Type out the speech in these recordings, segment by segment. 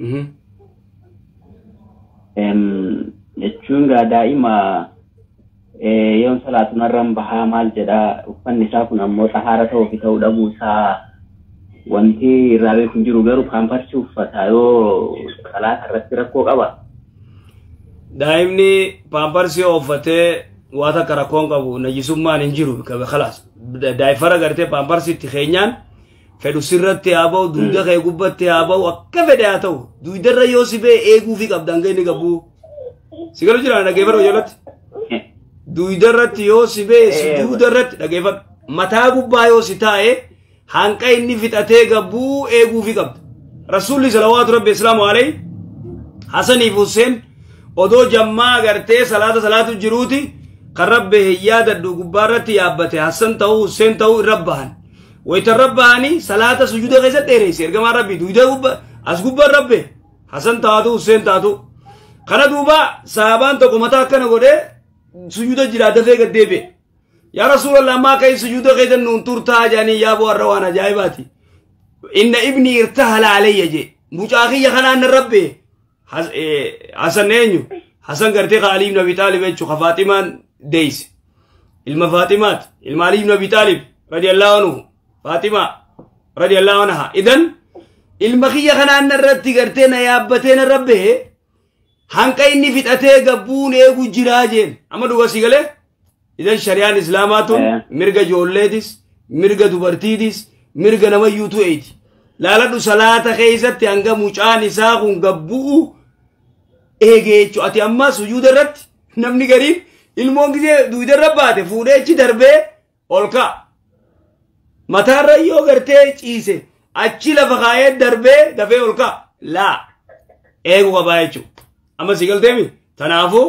Mhm. Em, jechuun gaa daa'ima eh, yoon salaatu narraan bahaa maal jedha uffanni isaa kun ammoo xahaara ta'uu fi ta'uu dhabuu isaa wanti irraa beeku hin jiru garuu paamparsi uffata yoo salaata irratti rakkoo qaba. daa'imni paamparsi yoo uffatee waa takka rakkoon qabu najisummaan hin jiru kabe kalaas daa'ifara gartee paamparsi itti keenyaan fedhu sirratti haa ba'u dugda kee gubbatti haa ba'u akka fedhe haa ta'u dugdarra yoo si ba'e eeguufi qabda hanga inni gabbuu si galu jira dhageeffadhu jalatti dugdarratti yoo si ba'e si Eh. dugdarratti dhageeffadhu mataa gubbaa yoo si taa'e hanqa inni fixatee gabbuu eeguufi qabda rasuulli salawaatu rabbi islaamu alayhi Hasaniif Hussein odoo jammaa agartee salaata salaatu jiruuti kan rabbi hin yaadadhu gubbaarratti yaabbate Hassan ta'uu Hussein ta'uu irra bahan. wayta irra bahanii salaata sujuuda keessatti dheereyse ergamaan rabbii duyda gubba as gubban rabbe hasan taatu husseen taatu kana duuba sahaabaan tokko mataa akkana godhee sujuuda jiraa dafee gad deebi'e yaa rasuulallah ammaa akka hin sujuuda keessa nuun turtaa jedhanii yaa bu'arra waan ajaa'ibaati inna ibni irtahala alayya jee mucaa kiyya kanaan na rabbe Has- eh, Hasan eenyu? Hasan gartee ka Ali ibn Abi Taalib jechuun ka Faatimaan deeyse. Ilma Faatimaat, ilma Ali ibn Abi Taalib radiyallahu anhu, Faatimaa radiyallahu anha. Idan ilma kiyya kanaan irratti gartee na yaabbatee na rabbee hanqa inni fixatee gabbuun eegu jiraa jeen. Amma dhugaa sii galee? Idan shari'aan Islaamaa tun Eh. mirga ijoolleetis, mirga dubartiitis, mirga namayyuu tu'eeti. Laaladhu salaata keessatti hanga mucaan isaa kun gabbu'u eegee jechuudha. Ati amma sujuuda irratti namni gariin ilmoon gisee duuda irra baate fuudhee achi darbee ol ka'a. Mataarra yoo gartee ciise achi lafa kaa'ee darbee dafee ol ka'a. Laa eeguu qabaa jechuudha. Amma si galteemi? Kanaafuu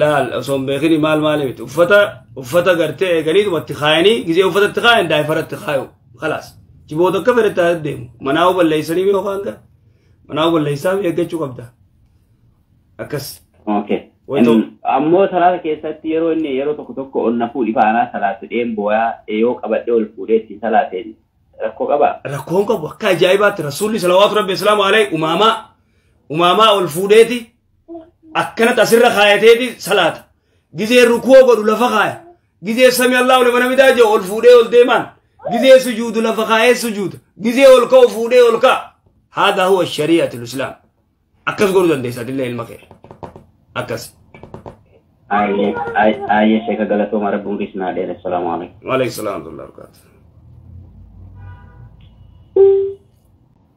laal osoo hin beekini maal maali miti uffata uffata gartee eeganiituma itti kaayanii gizee uffata itti kaayan daa'ifara itti kaayu kalaas jiboota akka fedhe taate deemu manaa balleessanii yoo kaan gara manaa balleessaa eeggachuu qabda akkas Okay. Wayto. Em, Ammoo salaata keessatti yeroo inni yeroo tokko tokko ol na fuudhi faanaa salaatu dheen booyaa yoo qabadhee ol fuudhee ittiin salaateen rakkoo qabaa? rakkoon qabu akka ajaa'ibaatti rasuulli salawaatu rabbi islaamu alayhi umaamaa umaamaa ol fuudheeti akkanatti asirra kaayateeti salaata gizee rukuu godhu lafa kaaya gizee sami allahu liman hamidaa jedhu ol fuudhee ol deemaan gizee sujuudu lafa kaayee sujuuda gizee ol ka'u fuudhee ol ka'a haadaa huwa shari'atu islaam akkas godhuu dandeessa atillee ilma kee akkas Ayyee sheeka galatooma rabbi umrii isin haa dheeressu. Salaamu alaikum. waaleykum salaam wa rahmatullahi wa barakaatuh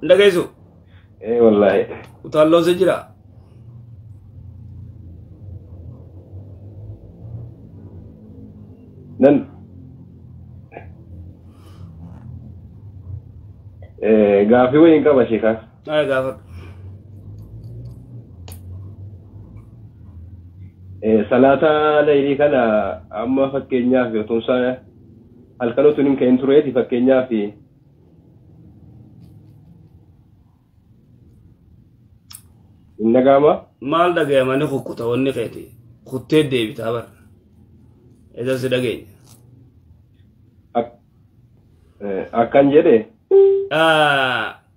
Hin dhageessu. Ee wallaahi. Utaalloon si jira. Nan. Ee gaafii wayii hin qaba sheekaa. Naa gaafadhu. Ee salaata laylii kana amma fakkeenyaaf yotumsaa halkan utuu hin ka'in tureeti fakkeenyaaf hin dhaga'ama. Maal dhaga'amanii kukkuta wanni keeti kuttee deebitaa bara. Isa si dhageenya. Akkan jedhe.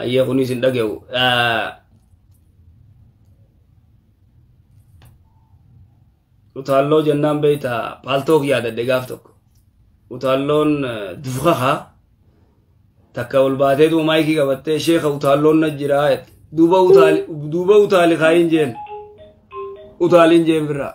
ayyee kunis hin dhage'u utaalloo jennaan beeyta paaltook yaadadhe gaaf tokko utaalloon dufkaha takka ol baatee duuba maayikii qabattee sheeka utaalloon na jiraa duuba utaali duuba utaali kaayin jeen utaaliin jeen birraa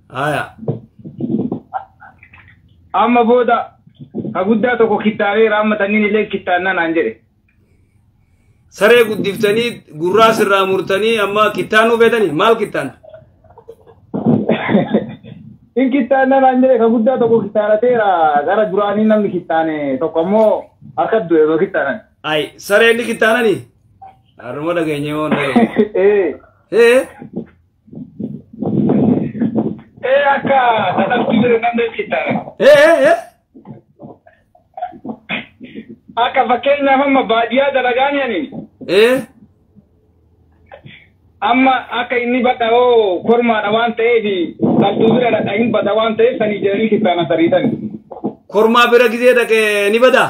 Haya. Amma booda ka guddaa tokko kittaabeera amma tanniin illee kittaannaa naan jedhe. Saree guddiftanii gurraa sirraa murtanii amma kittaanuu feetanii maal kittaanta? In kittaannaa naan jedhe ka guddaa tokko kittaanateera gara duraanii namni kittaane tokko ammoo harka du'e osoo kittaanan. Ay saree inni kittaananii? Haruma dhageenyee moo hin dhageenye? Ee Hee? Ee akka dadhabbii jiru nan beeksisa. Ee ee ee. Akka fakkeenyaaf amma baadiyyaa dalagaan yanin Ee. amma akka inni badha hoo kormaadha waan ta'eef dhaltuu bira dhadha hin bada waan ta'eef sanii jedhanii kittaana sariitan. Kormaa bira gizee dhaqee ni badaa?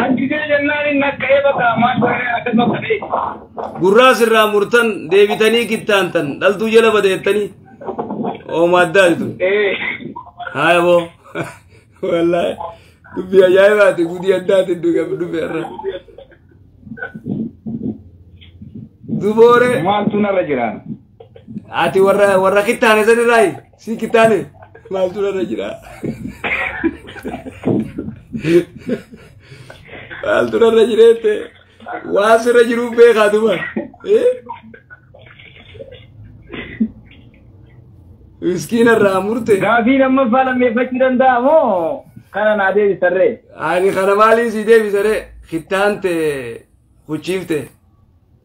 Ajjisee jennaan inni akka'ee bakka maal godhee akkas bakka ta'e. Gurraa sirraa murtan deebitanii kittaantan dhaltuu jala badeettanii oomaa addaa jitu. Ee. Haaya boo. Wallaahi. Dubbii ajaa'ibaati gudii addaati iddoo qabu dubbii irra. Duboore Maaltu narra jiraan? ati warra warra kittaane sanirraayi. Si kitaale maaltu irra jira? Maaltu irra jira jettee waan sirra jiru beekaa tuman. Miskiina irraa murte. Gaafii lammaffaa lammeeffachuu danda'a moo kana naa deebisarree? Ani kana maaliin si deebisaree? Kittaan tee huchiifte.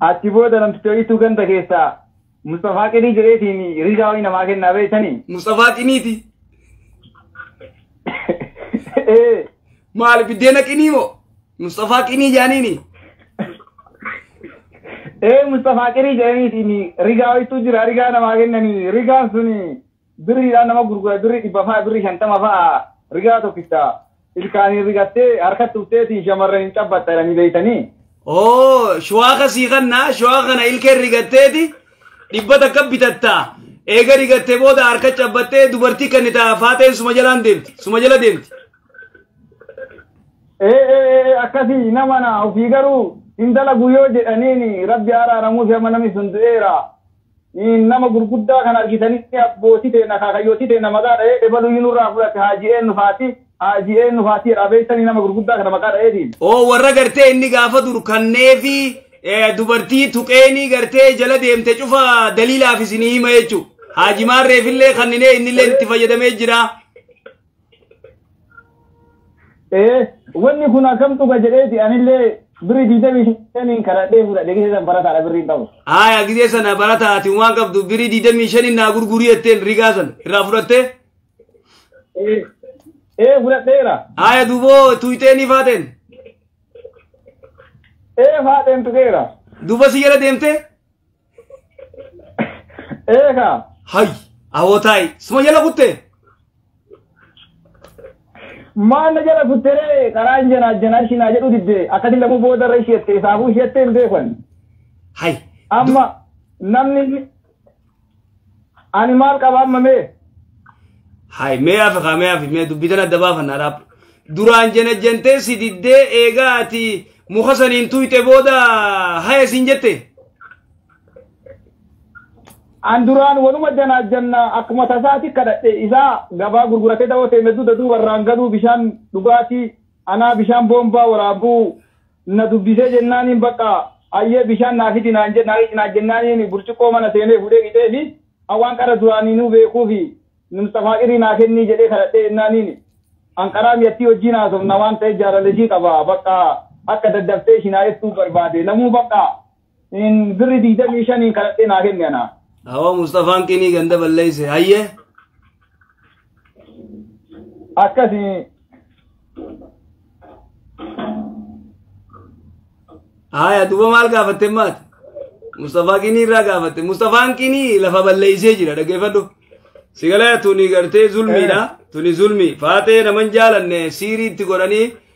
Achi booda namticha wayiitu ganda keessaa Musxafaa Qinii jedheetiin rishaa wayii namaa kennaa beektanii? Musxafaa Qiniiti. Ee, Maali biddeena qinii moo? Musxafaa Qinii jaaniini. ee Musxafaa Qinii jedhaniitiin rigaa wayiitu jira rigaa namaa kennanii rigaan suni Birriidhaan nama gurgura birrii dhibba fa'a birrii shantama fa'a rigaa tokkicha ilkaaniin rigattee harkatti ufteetiin shamarraniin cabbatta jedhanii beektanii. Oo shuwaaka sii kanna shuwaaka kana ilkeen rigatteeti dhibba takka bitatta eega rigattee booda harka cabbattee dubartii kennita faateen suma jalaan deemti suma jala deemti. Ee ee ee akkasii nama na ofii garuu hin dalagu yoo jedhaniin rabbi araaramuuf amma namni sun du'eera. Nama gurguddaa kana argitanii abbootii teenna akaakayyootii teenna maqaa dha'ee ebaluyyuu nurraa fudhate haajii eennu faati haajii eennu faati jedha beektanii nama gurguddaa kana maqaa dha'eetiin. Oo warra gartee inni gaafa dur kanneefi dubartii tuqeenii gartee jala deemte cufa daliilaaf isinii hima jechuu haaji maarreefillee kanninee innillee itti fayyadamee jira. Ee, wanni kun akkam dhuga jedheeti anillee birri digdamii shaniin kadhadhee fudhadhe gisee san barataadha birriin qabu. Haaya gisee sana barataa ati waan qabdu birii digdamii shaniin naa gurgurii jetteen rigaa sana irraa fudhattee. Ee, ee fudhadheera. Haaya duuboo tuutee ni faateen. Ee faateen tuqeera. Duuba si jala deemtee. Eeka. Hay. Awootaay. Suma jala kutte. Maal na jala kutteree karaan janaa janaa ishii naa jedhu didde akkati lamuu booda irra ishee jettee saafuu ishee jettee hin beekan. Hay. Amma namni Ani maal qaba amma mee? Hai, mee hafe kaa mee hafe mee dubbii tana adda baafannaa dhaab. Duraan janajjantee si diddee eegaa ati muka saniin tuyxe booda haya siin jette. An duraan wanuma janaa janna akkuma tasaati kadhadhe isaa gabaa gurguratee dawoo ta'e medduuda duuba irraan galuu bishaan dhugaatii anaa bishaan boombaa waraabuu Na dubbisee jennaaniin bakka hayyee bishaan naa fidi naan jennaaniin burcuqqoo mana seenee fuudhee qixeefi waan qara duraaniinuu beekuufi Musxafaa Qirii naa kennii jedhee kadhadhee jennaaniin an qaraa miyattii wajjiin haasofna waan ta'eef jaalala ishii qaba bakka akka daddaftee ishii naa ergituuf barbaade namuu bakka in birri digdamii shaniin kadhadhee naa kenne anaa. Awoo Mustafaan Qinii ganda balleesse hayyee. Akkasi Haaya duuba maal gaafatte maati? Mustafaa Qinii irraa gaafatte. Mustafaan Qinii lafa balleessee jira dhaggeeffadhu. Sigalaa tuni gartee zulmiidha. Tuni zulmii. Faaxee naman jaalanne siiriitti godhanii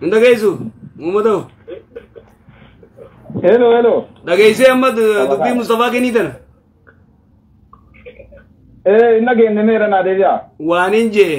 hin dhageessu muummatoo Hello, hello. dhageessee amma du- dubbii mustafaa kennii tana Eh, hin dhageenye meera naa deebi'a. waanin jee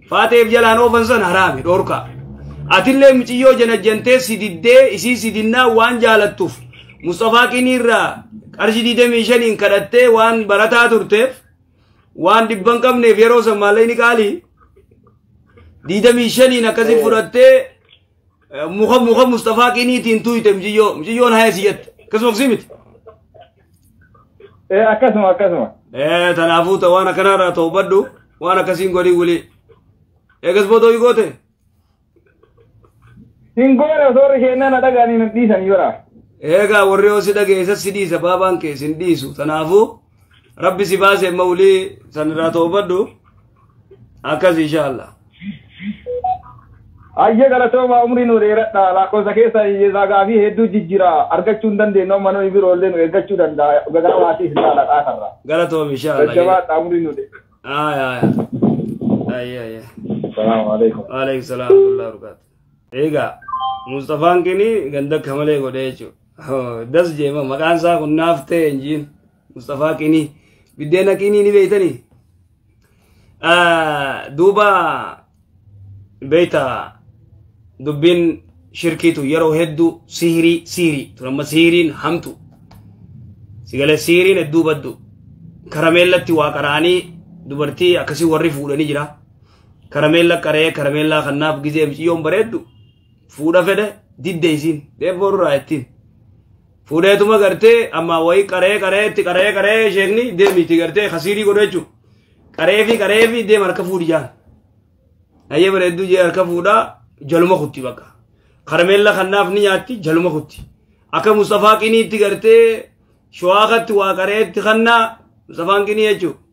Faateef jalaan oofan san haraami dhorkaa. Atillee miciyyoo janajjantee si diddee isii si dinnaa waan jaalattuuf Mustafaa Qinii irraa qarshii 25n kadhattee waan barataa turteef waan dhibban qabneef yeroo san maallee ni qaalii 25n akkasii fudhattee muka muka Mustafaa qiniitiin tuuyte mjiyyoo mjiyyoon haya si jette akkasuma akkasii miti. Eh, akkasuma akkasuma. Eh, tanaafuu ta waan akkanarraa ta'u baddu waan akkasiin godhii wulii. Eegas boodoo hii goote. Hin goone osoo warri keenyaa na dhagaanii na dhiisanii bara. Eegaa warri yoo si dhageessa si dhiisa baabaan kee sin dhiisu tanaafuu rabbi si baase amma ulii san irraa toobadhu akkas inshaallah Ayyee galatoomaa umrii nu dheeradha lakkoofsa keessa hiyyeessaa gaafii hedduu jijjiira argachuu hin dandeenyu amma nuyi biroo illee nu eeggachuu danda'a gagaa maatii hin taala dhaatarra. galatoom inshaallah Jajjabaadha umrii nu dheeradha. Aaya, aaya. Aaya, aaya. Salaamu alaikum. Waalaikum salaam wa rahmatullahi wa barakaatuh. Egaa Mustafaan kini ganda akka malee godhee jechuudha. Das jeema maqaan isaa kun naaf ta'e hin jiin. Mustafaa kini biddeena kini ni beeytanii. Duuba beeyta dubbiin shirkiitu yeroo hedduu sihirii sihirii turamma sihiriin hamtu. Sigalee sihiriin hedduu baddu. Karameellatti waa qaraanii dubartii akkasii warri fuudhanii jira. Karameella qaree karameellaa kannaaf gizee miciyyoon bareeddu fuudha fedhe didde isiin deeffoo irraa ittiin. Fuudheetuma gartee amma wayii qaree qaree itti qaree qaree sheekni deemi itti gartee kasiirii godhu jechuudha. Qaree fi qaree fi deem harka fuudhi jaan. Ayyee bareedduu jee harka fuudhaa jaluma kutti bakka. Karameella kannaaf ni nyaatti jaluma kutti. Akka Mustafaa qinii itti gartee shawaa katti waa qareetti kannaa Mustafaan qinii jechuudha.